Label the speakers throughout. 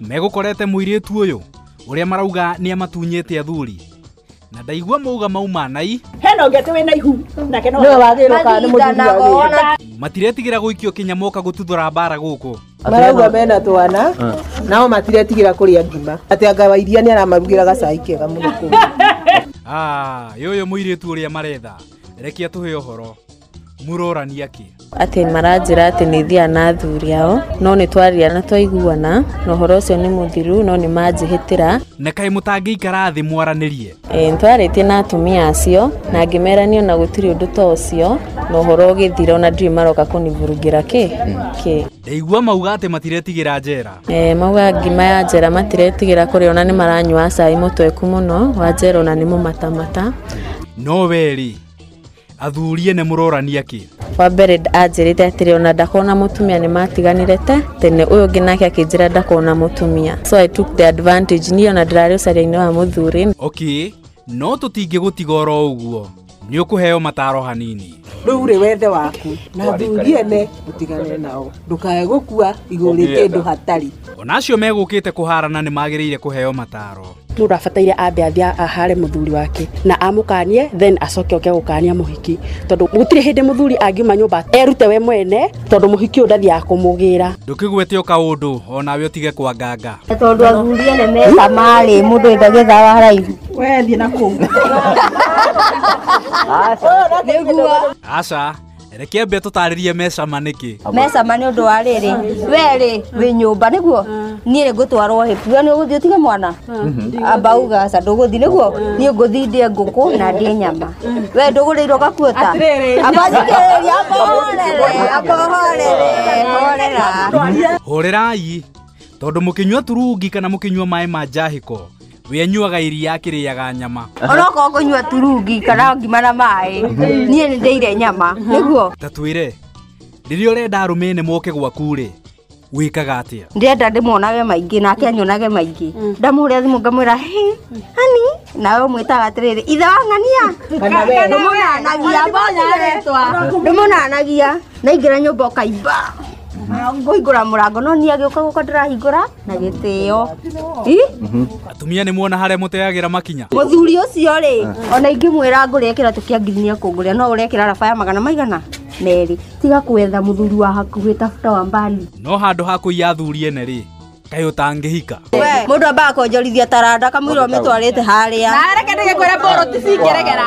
Speaker 1: megũkorete mũirĩtu ũyũ ũrĩa marauga nĩ amatunyĩte athuri na ndaigua mauga mauma nai hena ũngĩ atĩ wĩna ihu
Speaker 2: nake no Nĩwe wagĩrĩirwo kana
Speaker 3: nĩ
Speaker 2: mũthuri
Speaker 3: wagĩrĩirwo. matiretigĩra
Speaker 1: gũikio kinya moka gũtuthũra mbara gũkũ marauga mena
Speaker 3: twana nao matiretigĩra kũrĩa ngima atĩ anga wa iria nĩ aramarugĩra gacai kega mũno kũu Ah,
Speaker 1: yũyũ mũirĩtu ũrĩa maretha rekia tũhe ũhoro murorania kĩ atĩ maranjĩra
Speaker 4: atĩ nĩ thiaga na athuri ao no nĩ twaria na twaiguana na ũhoro ũcio nĩ mũthiru no nĩ manjĩhĩtĩra na kaĩ mũtangĩikara
Speaker 1: thĩ mwaranĩrie e, nĩ twarĩtie na
Speaker 4: atumia acio na ngĩmerania na gũtirĩ ũndũ ta ũcio na ũhoro ũgĩthira ona ndirĩ maroka kũnivurugĩra kĩ kĩ ndaigua
Speaker 1: mauga atĩ matiretigĩra njera e, mauga ngima
Speaker 4: ya njera matiretigĩra kũrĩa ona nĩ maranyua cai mũtweku mũno wa njera ona nĩ mũmatamata no
Speaker 1: wee rĩ athuri ene mũrorania kĩ wa mbere nd-
Speaker 4: anjĩrĩte atĩrĩ ona ndakona mũtumia nĩ matiganire te tene ũyũ ũngĩ nake akĩnjĩra ndakona mũtumia so i took the advantage niĩ ona ndĩrarĩ ũcaria-inĩ wa mũthuri okay
Speaker 1: no tũtingĩgũtiga oro ũguo nĩ ũkũheo mataro hanini rä u rä wethe
Speaker 3: waku na athuri ene å tigane nao ndåkae gå kua igå rä kä ndå hatari ona acio megũkĩte
Speaker 1: kũharana nĩ magĩrĩire kũheo mataro mũndå abataire ambe
Speaker 2: athiä ahare må thuri wake na amũkanie then acoke oke gũkania mũhiki tondũ gũtirĩ hĩndĩ må thuri angiuma nyũmba erute we mwene tondũ mũhiki ũyũ ndathiaga kũmũgĩra ndũkĩguĩte o kaũndũ
Speaker 1: o nawe ũtige kwanganga tondå athuri ene
Speaker 5: me camarä må ndå endagä tha wa raithi wethiä na
Speaker 2: kå
Speaker 1: aca reke ambe tũtarĩrie mecama nĩkĩ mecama nĩ ũndũ wa
Speaker 5: rĩrĩ we rĩ wĩ nyũmba nĩguo niĩ rĩ ngũtwarwo hĩbu we nĩ ũgũthiĩ ũtige mwana amba uga aca ndũgũthiĩ nĩguo niĩ ngũthiĩ ndĩe ngũkũ na ndĩe nyama we ndũgũrĩirwo gakuota amba thikĩrĩria amba ũhorere amba ũhorere
Speaker 1: horera hũrĩrai tondũ mũkĩnyua turungi kana mũkĩnyua maĩ ma njahĩko we anyuaga iria akĩrĩaga nyama onokorwo kũnyua
Speaker 5: turungi kana ngima na maĩ niĩ nĩ ndĩire nyama nĩguo ta twĩre
Speaker 1: rĩrĩa ũrenda arũme nĩ moke gwaku-rĩ wĩkaga atĩa ndĩrenda ndĩmuonage
Speaker 5: maingĩ nake anyonage maingĩ ndamũhũrĩra thimũ ngamwĩra "Hey, hani nawe ũmwĩtaga atĩrĩrĩ ithe wa ng'ania ndũmũnanagia ndũmũnanagia naingĩra nyũmba ũkaimba ngũhingũra mũrango no niĩ agĩũka gũka ndĩrahingũra na gĩtĩo Ih,
Speaker 1: atumia nĩ muona harĩa mũteagĩra makinya mũthuri ũcio rĩ
Speaker 5: ona ingĩmwĩra ngũrĩa kĩratũ kĩa ngiri nĩ ekũngũrĩa no ũrekĩra raba ya magana maigana merĩ tiga kwetha mũthuri wa hakuhĩ tafuta wa mbali no handũ ha kũiya
Speaker 1: athuri ene rĩ kaĩ ũtangĩhika mũndũ ambaga
Speaker 5: kwonjorithia taranda kamũira ũmĩtwarĩte harĩa na areke ndĩgĩkwĩra
Speaker 2: mbũrũ ti cingĩregera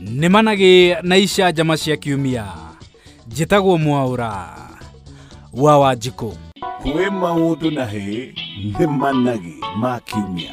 Speaker 1: nĩ managĩ na icanjama cia kiumia njĩtagwo mwaũra
Speaker 6: wa wanjikũ
Speaker 1: kwĩ
Speaker 6: maũndũ na hĩ nĩ managĩ ma kiumia